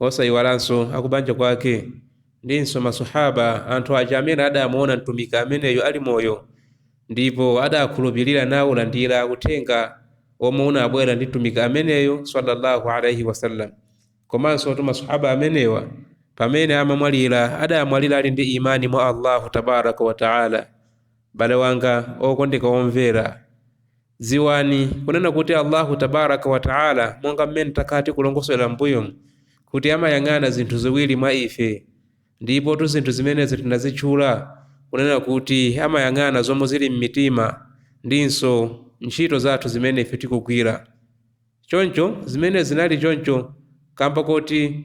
Osaiwalanso akubanja kwake ndinso maswahaaba, anthu aja amene adamuona Mtumiki ameneyu ali moyo ndipo adakhulupirira naulandira uthenga omwe unabwera ndi Mtumiki ameneyu swalla Allahu alaih wasallam. Komansotu maswahaaba amenewa pamene amamwalira adamwalira ali ndi imaan mwa Allahu tabaaraka wa ta'ala. M'bale wanga okondeka omvera, Dziwani kunena kuti Allahu tabaraka wa taala monga mmene takhala tikulongosolera m'mbuyomu kuti amayang'ana zinthu ziwiri mwa ife, ndipotu zinthu zimenezi tinazitchula kunena kuti amayang'ana zomwe zili m'mitima ndinso ntchito zathu zimene ife tikugwira. Choncho zimenezi zinali choncho kamba koti.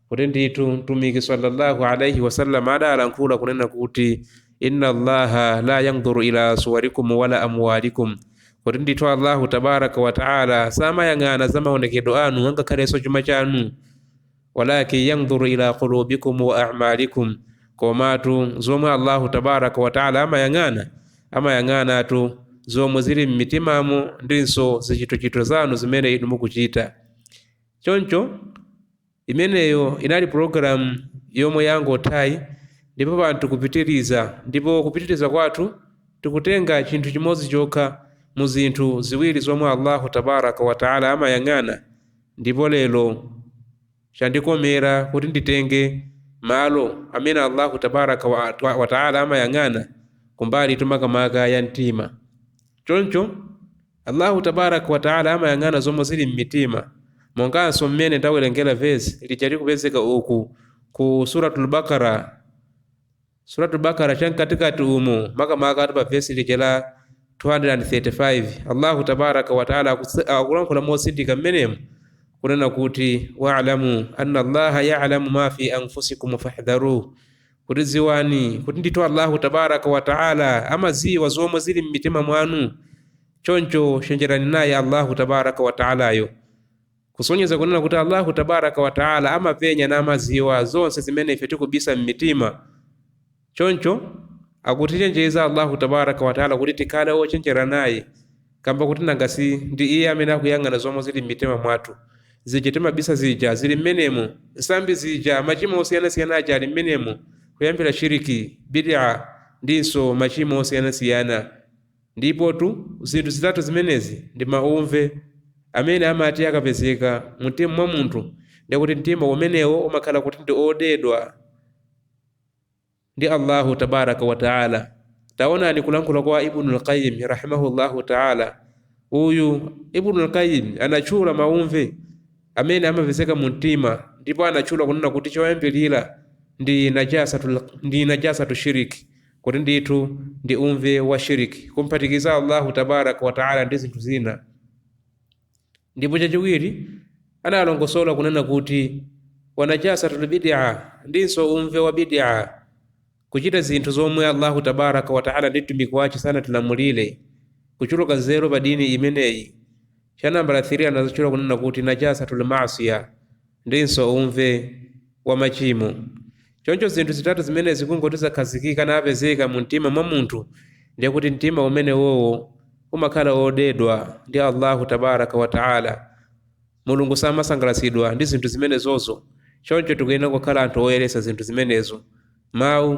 kuti ndithu mtumiki sallallahu alaihi wasallam adalankhula kunena kuti inna allaha la yandhuru ila suwarikum wala amwalikum kuti ndithu allahu tabaraka wataala samayang'ana za maonekedwe anu angakhalenso chuma chanu walakin yandhuru ila qulubikum wa amalikum komatu zomwe allahu tabaraka wataala amayang'ana amayang'anatu zomwe zili m'mitimamo ndinso zichitochito zanu zimene inu mukuchita choncho Imeneyo inali pulogalamu yomwe yangothayi, ndipo pano tikupitiriza. Ndipo kupitiriza kwathu tikutenga chinthu chimodzi chokha mu zinthu ziwiri zomwe Allahu Tabaaraka wa Ta'ala amayang'ana, ndipo lero chandikomera kuti nditenge malo amene Allahu Tabaaraka wa Ta'ala amayang'ana kumbalitu makamaka ya mtima. Choncho. Allahu tabaaraka wa ta'âlâ amayang'ana zomwe zili m'mitima, monganso mmene tawerengera verse lija likupezeka uku ku Surat Al-Baqara, Surat Al-Baqara cha mkatikati umu, makamakatu pa verse lija la 235, Allahu tabaaraka wa ta'âlâ akutsi- akulankhula motsindika mmenemu kunena kuti, Wa'lamu anna Allaha ya'lamu ma fi anfusikum fahdharuh. kuti dziwani kuti ndithu allahu tabaraka wataala amadziwa zomwe zili m'mitima mwanu choncho chenjerani naye allahu tabaraka wataalayo kusonyeza kunena kuti allahu tabaraka wataala amapenya namadziwa zonse zimene ife tikubisa m'mitima choncho akutichenjeza allahu tabaraka wataala kuti tikhale ochenjera naye Kamba kuti nanga si ndi iye amene akuyang'ana zomwe zili m'mitima mwathu? Zija timabisa zija, zili m'menemo. Nsambi zija, machimo osiyanasiyana aja ali m'menemo, kuyambira shiriki, bid'ah, ndinso machimo osiyanasiyana. Ndipotu, zinthu zitatu zimenezi ndi maumve amene amati akapezeka mu mtima mwa munthu, ndiye kuti mtima umenewo umakhala kuti ndi odetsedwa. ndi Allahu tabaraka wa taala. Taonani kulankhula kwa Ibn al-Qayyim rahimahullahu taala. Uyu Ibn al-Qayyim anatchula maumve amene amapezeka mu mtima ndipo anatchula kunena kuti choyambirira ndi najasatu shiriki kuti ndithu ndi umve wa shiriki kumphatikiza Allahu tabaraka wa taala ndi zinthu zina. ndipo chachiwiri analongosola kunena kuti wa najasatul bid'a ndinso umve wa bid'a kuchita zinthu zomwe allahu tabaraka wataala ndi mtumiki wace sanatilamulire kuchuluka nzeru pa dini imeneyi cha nambala 3 anadzatchula kunena kuti najasatul masiya ndinso umve wa machimo Choncho zinthu zitatu zimenezi kungoti zakhazikika n'kupezeka mumtima mwa munthu, ndiye kuti mtima umenewowo umakhala wodedwa ndi Allahu tabaraka wa taala. Mulungu samasangalatsidwa ndi zinthu zimenezozo, choncho tikuyenera kukhala anthu oyeretsa zinthu zimenezo, mawu,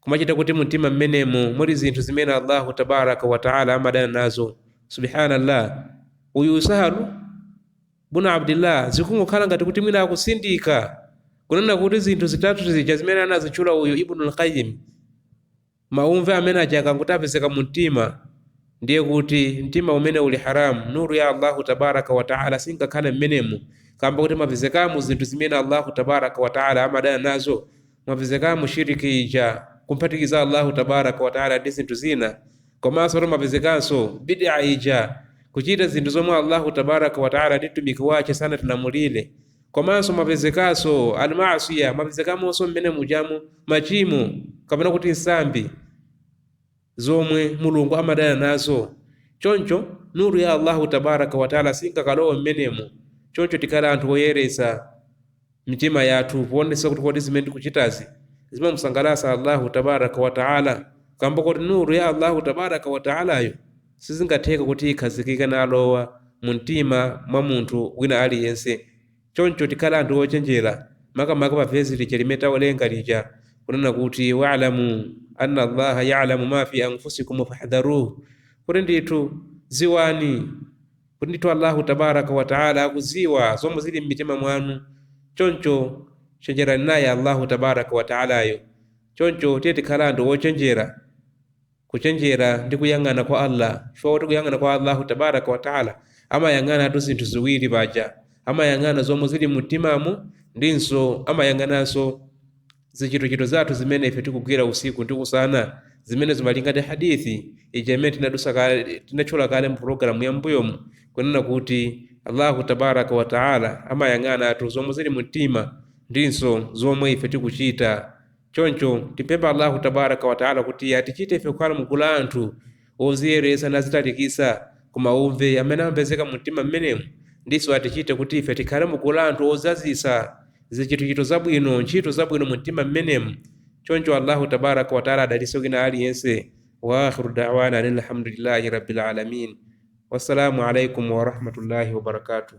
kumachita kuti mumtima mmenemo muli zinthu zimene allahu tabaraka wataala amadana nazo subhanallah uyu sahlu bunu abdillah zikungokhala ngati kuti mwina akutsindika kunena kuti zinthu zitatu zija zimene anazitchula uyu ibnu lqayim maumve amene aja akangoti apezeka mu mtima ndiye kuti mtima umene uja uli haramu nuru ya allahu tabaraka wataala singakhale mmenemo kamba kuti mwapezekamo zinthu zimene allahu tabaraka wataala amadana nazo mwapezekamo shirk ija, kumphatikiza Allahu tabaraka wa taala ndi zinthu zina, komanso mwapezekanso bid'a ija, kuchita zinthu zomwe Allahu tabaraka wa taala ndi mtumiki wace sanatilamulire, komanso mwapezekanso almasiya, mwapezekamonso mmene mujamu machimo kapena kuti nsambi. zomwe Mulungu amadana nazo, choncho Nur ya Allahu Tabaraka wa Ta'la singakalowe m'menemo, choncho tikhale anthu oyeretsa mitima yathu poonetsetsa kuti kodi zimene tikuchitazi zimamusangalatsa Allahu Tabaraka wa Ta'la, kamba koti Nur ya Allahu Tabaraka wa Ta'layo sizingatheke kuti ikhazikike nalowa mu mtima mwa munthu wina aliyense. Choncho tikhale anthu ochenjera makamaka pa vesi lija limene tawerenga lija kunena kuti wa'lamu anna Allaha ya'lamu ma fi anfusikum fahdharuh, kuti ndithu dziwani kuti ndithu Allahu tabaraka wa taala akudziwa zomwe zili m'mitima mwanu, choncho chenjerani naye Allahu tabaraka wa taalayo. Choncho tiye tikhale anthu ochenjera. kuchenjera ndi kuyang'ana kwa Allah chifukwa kuti kuyang'ana kwa Allahu tabaraka wa taala amayang'anatu zinthu ziwiri paja amayang'ana zomwe zili mu mtimamu ndinso amayang'ananso zichitochito zathu zimene ife tikugwira usiku ndi usana zimene malinga ndi hadithi ija imene tinadutsa kale tinatchula kale mu pulogalamu ya mbuyomu kunena kuti allahu tabaraka wa taala amayang'anatu zomwe zili mu mtima ndinso zomwe ife tikuchita Choncho, timpempha Allahu tabaraka wa taala kuti atichite ife kukhala mu gulu la anthu odziyeretsa nadzitalikitsa ku mauve amene amapezeka mu mtima m'menemu, ndinso atichite kuti ife tikhale mu gulu la anthu odzazitsa zichitochito zabwino, ntchito zabwino mu mtima m'menemu. Choncho Allahu tabaraka wa taala adalitse wina aliyense. Wa akhiru da'wana anil hamdulillahi Rabbil alamin. Wassalamu alaikum warahmatullahi wabarakatuh.